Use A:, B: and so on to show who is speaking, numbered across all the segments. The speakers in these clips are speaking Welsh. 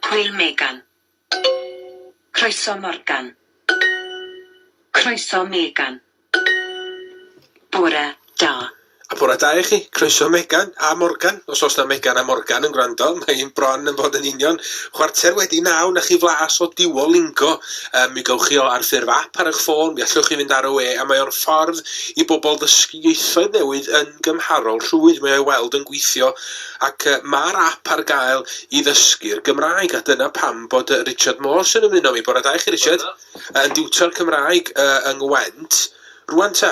A: Hwyl Megan. Croeso Morgan. Croeso Megan. Bore da. A bore da i
B: chi. Croeso Megan a Morgan. Os oes na Megan a Morgan yn gwrando, mae hi'n bron yn bod yn union chwarter wedi naw na chi flas o Duolingo. Um, mi gywch chi o ar ffurf app ar eich ffôn, mi allwch chi fynd ar y we, a mae o'n ffordd i bobl ddysgu ieithoedd newydd yn gymharol rhwydd mae o'i weld yn gweithio ac yy ma'r ap ar gael i ddysgu'r Gymraeg a dyna pam bod yy Richard Morse yn ymuno â mi. Bore da i chi Richard. Yn diwtor Cymraeg yy yng Ngwent. Rŵan ta,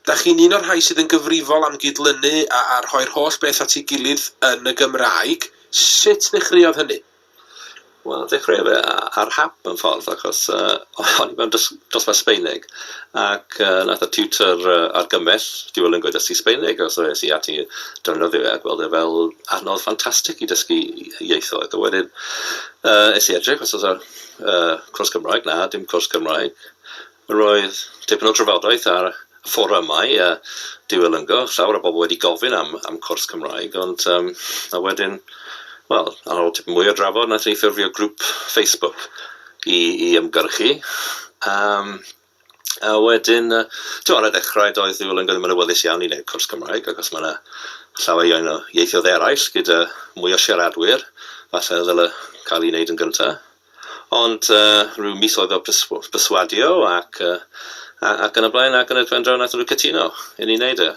B: da chi'n un o'r rhai sydd yn gyfrifol am gydlynu a, a rhoi'r holl beth at ei gilydd yn y Gymraeg. Sut nechreuodd hynny? Wel
C: dechreuodd fe a- ar hap mewn ffordd achos yy o'n i mewn dos- dosbarth Sbaeneg ac yy wnaeth y tiwtor yy argymell dual linguist dysgu Sbaeneg a so es i ati defnyddio fe a gweld e fel adnodd ffantastig i dysgu ieithoedd a wedyn yy es i edrych os oes 'na yy cwrs Cymraeg, na dim cwrs Cymraeg. Roedd tipyn o drafodaeth ar fforymau a diwylyngo, llawer o bobl wedi gofyn am am cwrs Cymraeg ond yym a wedyn wel ar ôl tipyn mwy o drafod wnaethon ni ffurfio grŵp Facebook i i ymgyrchu yym a wedyn yy t'mo' ar y dechrau doedd ddiwylyngo ddim yn awyddus iawn i wneud cwrs Cymraeg achos ma' 'na llawer iawn o ieithoedd eraill gyda mwy o siaradwyr falle ddyle cael ei wneud yn gynta. Ond rhyw misoedd o perswadio ac yn y blaen ac yn y blaen draw naethon nhw cytuno i ni wneud e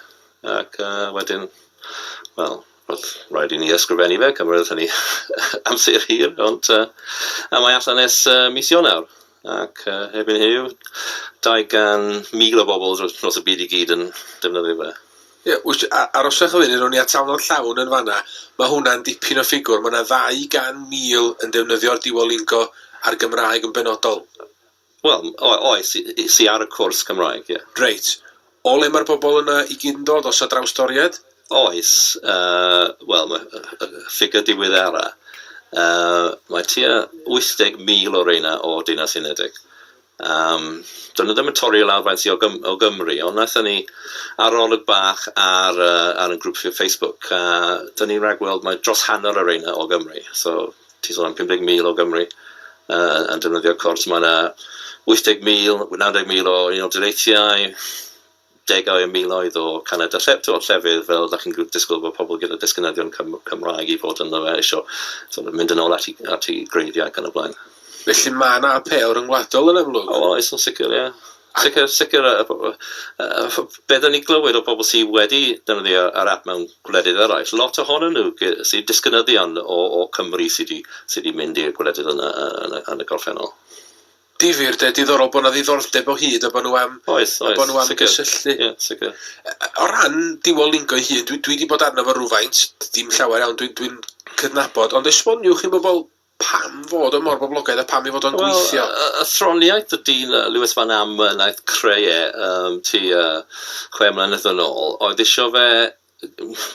C: ac wedyn wel roedd rhaid i ni ysgrifennu fe, cymroedd hynny amser hir ond a mae allan ers mis Ionawr ac erbyn heddiw 200,000 o bobl dros y byd i gyd yn defnyddio fe. Ie, wyt, a-
B: aroswch y funud, ro'n i atalnod llawn yn fanna. Mae hwnna'n dipyn o ffigwr. Mae yna 200,000 yn defnyddio'r Duolingo a'r Gymraeg yn benodol. Wel,
C: o- oes, es i ar y cwrs Cymraeg, ie. Reit. O
B: le mae'r bobl yna i gyd yn dod, os a drawstoriaid? Oes,
C: yy, wel, mae y y y ffigur diweddara', yy, mae tua 80,000 o reina o Deyrnas Unedig. Yym, do'n nhw ddim yn torri lawr faint i o Gym- o Gymru, ond wnaethon ni arolwg bach ar yy ar 'yn grŵp ff- Facebook a 'dyn ni'n ragweld mai dros hanner y reina o Gymru, so ti'n sôn am 50,000 o Gymru yy yn defnyddio'r cors, ma' 'na 80,000, 90,000 o Unol Daleithiau, degau o miloedd o canedau lle- tibod llefydd fel dach chi'n gw- disgwyl bod pobl gyda disgynyddion Cym- Cymraeg i fod ynddo fe isio sort of mynd yn ôl at i at i greiddiau ac yn y blaen. Felly mae yna
B: apêl ryngwladol yn amlwg. O oes yn sicr ie.
C: Sicr sicr yy yy yy be' 'dan ni'n glywed o bobl sy wedi defnyddio yr ap mewn gwledydd eraill lot ohonyn nhw gy- sy disgynyddion o o Cymru sy 'di sy 'di mynd i'r gwledydd yna yy yn y yn y gorffennol. Difyr
B: 'de, diddorol bod 'na ddiddordeb o hyd a bod nhw am... Oes, oes... bod nhw am gysylltu. Ie, sicr.
C: O ran
B: Duolingo ei hun, dwi, dwi wedi bod arno fo rhywfaint, dim llawer iawn, dwi'n dwi, dwi cydnabod, ond esboniwch i bobl pam fod o mor boblogaidd a pam i fod o'n well, gweithio. Y, y throniaeth
C: y dyn Lewis Van Am yn aeth creu e um, ti uh, chwe mlynedd yn ôl, oedd eisiau fe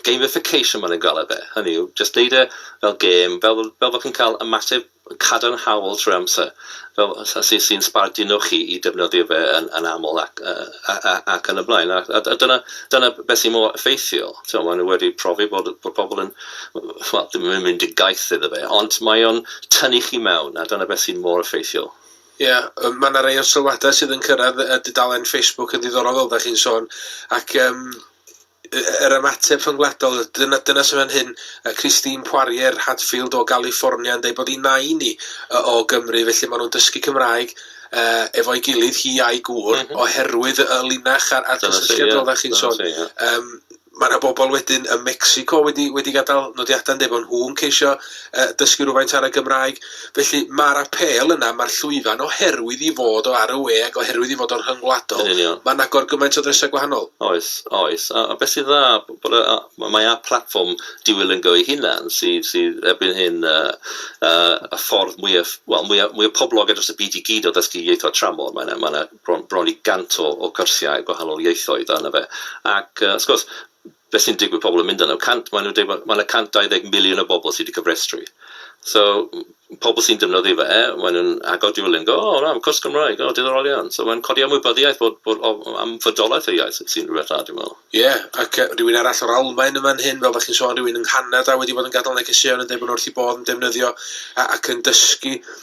C: gamification maen nhw'n gael e fe, hynny yw, jyst neud e fel gêm, fel fel bod chi'n cael ymateb cadarnhaol trwy amser, fel sy sy'n sbarduno chi i defnyddio fe yn yn aml ac yy a- a- ac yn y blaen a a a dyna dyna beth sy'n mor effeithiol. T'mo' maen nhw wedi profi bod bod pobl yn wel ddim yn mynd yn gaeth iddo fe ond mae o'n tynnu chi mewn a dyna beth sy'n mor effeithiol. Ia, yy
B: ma' 'na rei o'r sylwadau sydd yn cyrraedd y dudalen Facebook yn ddiddorol fel dach chi'n sôn, ac yym y- yr ymateb rhyngwladol, dyna dyna sydd fan hyn, yy Christine Poirier Hadfield o Galiffornia yn deud bod 'i nain 'i yy o Gymru, felly maen nhw'n dysgu Cymraeg yy efo'i gilydd, hi a'i gŵr... M-hm. ...oherwydd y linach a'r a'r cysylltiad fel dach chi'n sôn. Yym. Mae yna bobl wedyn ym Mecsico wedi wedi gadael nodiadau'n dweud bod nhw'n ceisio uh, dysgu rhywfaint ar y Gymraeg. Felly mae'r apel yna, mae'r llwyfan oherwydd i fod o ar y we ac oherwydd i fod o'n rhyngwladol, mae'n agor gymaint o ddresau gwahanol. Oes, oes. A,
C: a beth sy'n dda, bod a, mae a platfform diwylliannol ei hunan sydd, sydd erbyn hyn uh, uh, y ffordd mwyaf, wel, mwyaf, mwyaf poblogaidd dros y byd i gyd o ddysgu ieithoedd tramor. Mae'n yna, mae yna bron, bron i 100 o, o gyrsiau gwahanol ieithoedd arno fe. Ac uh, wrth gwrs, beth sy'n digwydd pobl yn mynd yno? Cant, maen nhw'n dweud bod mae yna 120 miliwn o bobl sydd wedi cyfrestru. So, pobl sy'n defnyddio fe, maen nhw'n agor Duolingo, o, oh, na, mae cwrs Gymraeg, o, oh, diddorol iawn. So, mae'n codi ymwybyddiaeth bod, bod o, am fydolaeth y iaith sy'n rhywbeth dda, dwi'n meddwl. Ie, yeah, ac uh, rhywun
B: arall o'r Almain yma'n hyn, fel fath chi'n sôn, rhywun yng Nghanada wedi bod yn gadael negeseuon yn dweud bod nhw wrth i bod yn defnyddio ac yn dysgu.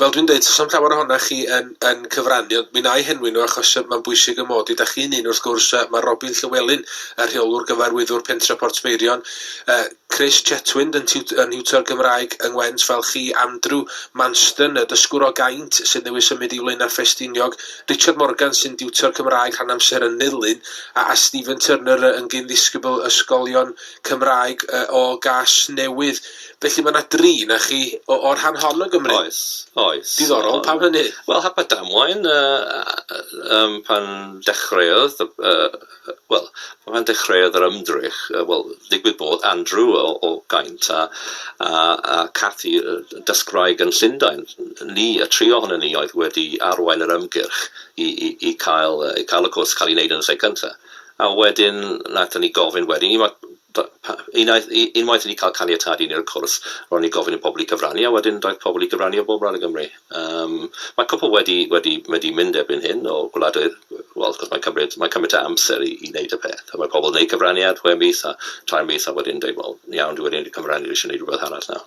C: Fel dwi'n deud,
B: 'sa'm llawer ohonoch chi yn yn cyfrannu, ond mi 'na i henwi nhw achos yy mae'n bwysig 'y mod i. 'Da chi'n un, wrth gwrs, yy ma' Robin Llywelyn, y Rheolwr Gyfarwyddwr Pentre Portmeirion, yy Chris Chetwynd yn tiwt- yn niwtor Gymraeg yng Ngwent fel chi, Andrew Manston, y dysgwr o Gaint sydd newydd symud i Flaenau Ffestiniog, Richard Morgan sy'n diwtor Cymraeg rhan amser yn Nulyn, a a Stephen Turner, yy yn gyn-ddisgybl ysgolion Cymraeg yy o Gasnewydd. Felly mae 'na dri 'na chi o o'r rhan hon o Gymru? Oes, oes. Diddorol,
C: pam hynny?
B: Wel, hap a damwain,
C: yym pan dechreuodd y y y wel pan dechreuodd yr ymdrech yy wel digwydd bod Andrew o o Gaint a a a Cathy yy yn dysgwraig yn Llundain, ni, y tri ohonon ni oedd wedi arwain yr ymgyrch i i i cael yy i cael y cwrs cael ei wneud yn y lle cynta. A wedyn naethon ni gofyn wedyn i ma' Unwaith i ni wedi cael caniatâd i wneud y cwrs, ro'n ni'n gofyn i pobl i gyfrannu, a wedyn daeth pobl i gyfrannu o bob ran o Gymru. Yym, mae cwpwl wedi wedi wedi mynd erbyn hyn o gwledydd, wel wrth gwrs mae'n cymryd mae'n cymryd tua amser i i wneud y peth, a mae pobl yn neud cyfraniad chwe mis a tair mis a wedyn yn deud wel iawn dwi wedi neud y cyfraniad dwi isio neud rwbeth arall nawr.